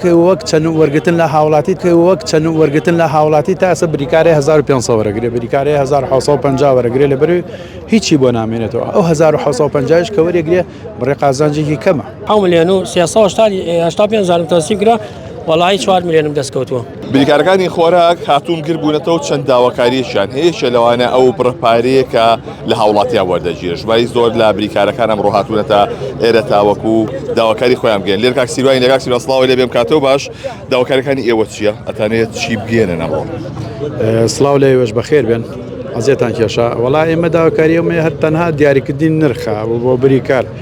وەک چەند وەرگتن لە هاوڵاتی کە وەک چەند وەرگتن لە هاوڵاتی تا ئەسە بریکارێ 1500 وەرەگرێ بریکارێ 1950 وەرەگرێ لە بەروی هیچی بۆ نامێنێتەوە ئەو 1950 کە وەرەگرێ بڕێ قازانجێکی کەمە ئەو ملیۆن و 385 زارم تەسی گرە وەڵی 4 ملیۆنم دەستکەوتووە بریکارەکانی خۆراک هاتوون گربوونەتەوە چەند داواکاریشیان هەیەشە لەوانە ئەو بڕپارەیە کە لە هاوڵاتیان وەردەگیرێت ژماری زۆر لە بریکارەکان ئەمڕۆ هاتوونەتە ئێرە تاوەکو و داواکاری خۆیان بگەن لێر کاک سیروانی لەگاک سیرا سڵاوی لێ بێم کاتەوە باش داواکارەکانی ئێوە چییە ئەتانێت چی بگێنن ئەمڕۆ سڵاو لە ئێوەش بەخێر بێن ئەزێتان کێشە وڵا ئێمە داواکاریەوەێ هەر تەنها دیاریکردین نرخە بۆ بریکار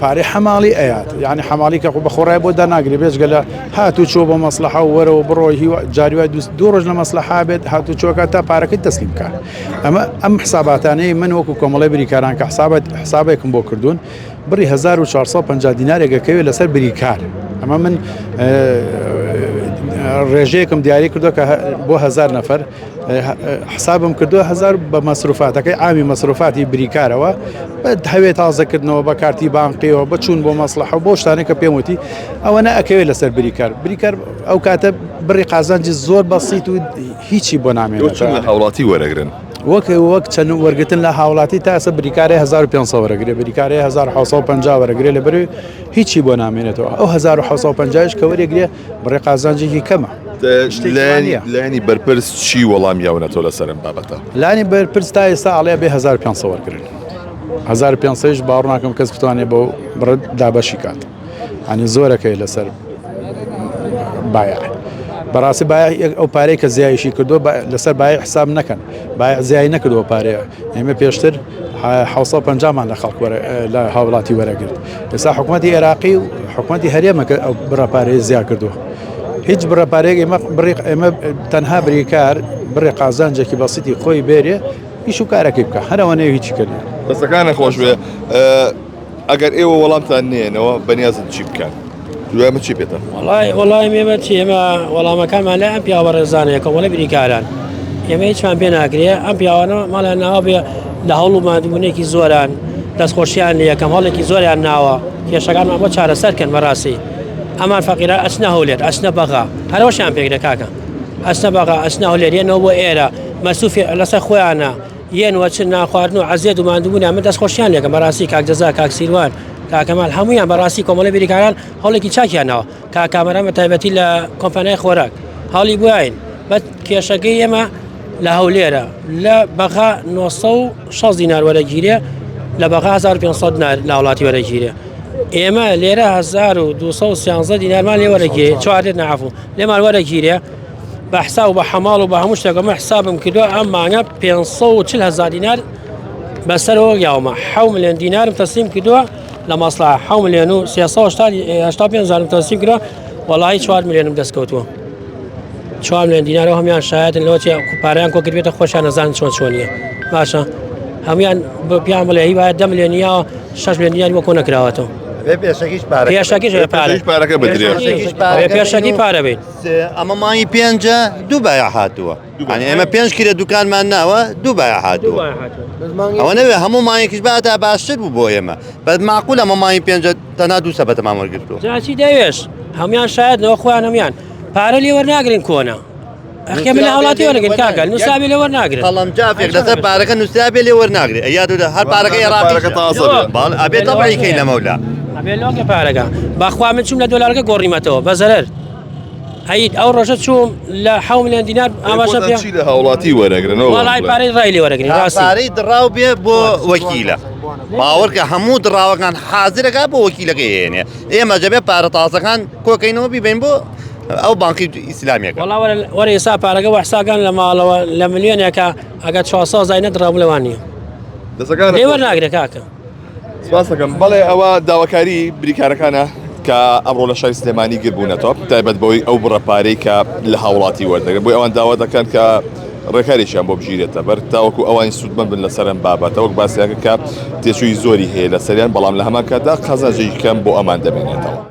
پارەی حەماڵی ئەیات یعنی حەماڵی کە بە خۆڕای بۆ دەناگری بێجگە لە هات و چۆ بە مەسلحە و وەرەوە بڕۆ هیوا جاریوای دوست دوو ڕۆژ لە مەسلحا بێت هات و چۆکە تا پارەکەی تەسلیم بکات ئەمە ئەم حساباتانەی من وەکو کۆمەڵی بریکاران کە حسابەت حسابێکم بۆ کردوون بڕی 1450 دینارێکەکەوێت لەسەر بریکار ئەمە من ڕێژەیەکم دیاری کردو کە بۆ هزار نەفر حسابم کردووە هزار بە مەسروفاتەکەی ئاوی مەسروفاتی بریکارەوە بە هەوێ تازەکردنەوە بە کارتی بانقیەوە بچوون بۆ مەسلحە بۆ شتانە کە پێم وتی ئەوە نەکەوێت لەسەر بریکار بریکار ئەو کاتە بڕی قازانجی زۆر بەسییت و هیچی بۆ نامێن لە هاوڵاتی وەرەگرن وەک وەک چەند وەرگتن لە هاوڵاتی تاسە بریکارە 1500 وەرەگرێ بریکارە 1950 وەرەگرێ لە بەروی هیچی بۆ نامێنێتەوە ئەو 1950 کە وەرەگرێ بڕێ قازانجێکی کەمە لانی بەرپرس چی وەڵام یاونەتەوە لە سەرم بابەتە لانی بەرپرس تا ئێستا ئاڵێ بێ 1500 وەرگن 1500 باڕناکەم کەس بتوانێت بۆ بڕت دابەشی کات ئەنی زۆرەکەی لەسەر باە. بەڕاستی با ئەو پارەی کە زیایشی کردو لەسەر باە حساب نەکەن باە زیای نەکردووە پارەیە ئێمە پێشتر حەوت سەد و پەنجا مان لە خەڵک لە هاوڵاتی وەرەگرت ئێستا حکوومەتی عێراقی و حکوومەتی هەرێمەکە ئەو بڕەپارێز زیاد کردووە هیچ بڕەپارێک ئێمە بڕێک ئێمە تەنها بریکار بڕێ قازانجێکی بەسیتی خۆی بێرێ ئیش و کارەکەی بکە هەرەوەنێ هیچی کرد دەستەکانە خۆشبێ ئەگەر ئێوە وەڵامتان نێنەوە بەنیازن چی بکەن؟ دوای چی پێتان؟ وڵای وڵای مێمە چی ئێمە وەڵامەکانمان لای ئەم پیاوە ڕێزانەیە کۆمەڵە بریکاران ئێمە هیچمان پێ ناکرێ ئەم پیاوانە ماڵیان ناوە بێ لە هەوڵ و مادبوونێکی زۆران دەستخۆشیان لە یەکەم هەڵێکی زۆریان ناوە کێشەکان ئەمە چارەسەر کەن بەڕاستی ئەمان فەقیرە ئەچنە هەولێت ئەچنە بەغا هەرەوەشیان پێکرێ کاکە ئەچنە بەغا ئەچنە هەولێریەنەوە بۆ ئێرە مەسوفی لەسەر خۆیانە یێن و چ نانخواردن و عەزێت و ماندووبوونیان من دەستخۆشیان لێکەم بەڕاستی کاک جەزا کاک سیروان کاکەمال هەموویان بەڕاستی کۆمەڵی بیریکاران هەوڵێکی چاکیانەوە کا کامەران بە تایبەتی لە کۆمپانای خۆراک هەڵی بواین بە کێشەکەی ئێمە لە هەولێرە لە بەغا 960 دینار وەرەگیرێ لە بەغا 1500 دینار لە وڵاتی وەرەگیرێ ئێمە لێرە 1213 دینارمان لێ وەرەگیرێ چوارێت نعفو لێمان وەرەگیرێ بە حساب و بە حەماڵ و بە هەموو شتێکە من حسابم کردووە ئەم مانگە 540 هزار دینار بەسەرەوە یاومە حەو ملیۆن دینارم تەسلیم کردووە لە مەسڵا حەو ملیۆن و 385 هزارم تەسلیم کردووە وەڵی 4 ملیۆنم دەستکەوتووە 4 ملیۆن دینارەوە هەمیان شایەتن لەوەتی پاریان کۆ کردێتە خۆشیان نەزان چۆن چۆنیە باشە هەموان بە پیان بڵێ هیوایە دە ملیۆنیاوە 6 ملیۆن دینار بۆ کۆ نەکراوەتەوە پێشەکیش پارەکە بدرێت پێشەکی پارە بێت ئەمە مانگی پێنجە دوو بایا هاتووە ئەنی ئێمە پێنج کرێ دوکانمان ناوە دوو بایا هاتووە ئەوە نەوێ هەموو مانگێکیش بادا باشتر بوو بۆ ئێمە بەس معقول ئەمە مانگی پێنجە تەنا دوو سەبەتەمان وەرگرتووە جاچی دەوێش هەمان شایدەوە خۆیان هەمان پارە لێ وەرناگرین کۆنا ئەخێ من هاوڵاتی وەرگن کاکە نووسابێ لێ وەرناگرێت قەڵم جافێک لەسەر پارەکە نووسابێ لێ وەرناگرێ یا دوو هەر پارەکە عێراقەکە تازە باڵ ئەبێت تەبعیکەی لەمەولا ئەبێ لۆکە پارەکە باخوا من چوم لە دۆلارەکە گۆڕیمەتەوە بەزەرەر ئەید ئەو ڕۆژە چوم لە ح میلیۆن دینار ئاماژە پێ لە هاوڵاتی وەرەگرنەوە وڵای پارەی ڕای لێ وەرەگری ڕاستارەی دراو بێ بۆ وەکیلە باوەڕکە هەموو دراوەکان حازرەکە بۆ وەکیلەکە هێنێ ئێمە دەبێت پارە تازەکان کۆکەینەوە بیبین بۆ ئەو بانکی ئیسلامێک وەرە ئێسا پارەکە وەحساگان لە ماڵەوە لە ملیۆنێکە ئەگە چواسا زای نەدراو لەوان نیە دەسەکان لێوە ناگرێت کاکە سپاسەکەم بەڵێ ئەوە داواکاری بریکارەکانە کە ئەمڕۆ لە شای سلێمانی گربوونەتەوە تایبەت بەوەی ئەو بڕە پارەی کە لە هاوڵاتی وەردەگرن بۆی ئەوان داوا دەکەن کە ڕێکارێکیان بۆ بگیرێتە بەر تاوەکو ئەوانی سوودمەند بن لە سەرم بابەتەوەک باسیاکە کە تێچووی زۆری هەیە لە سەریان بەڵام لە هەمان کاتدا قەزەجی کەم بۆ ئەمان دەمێنێتەوە.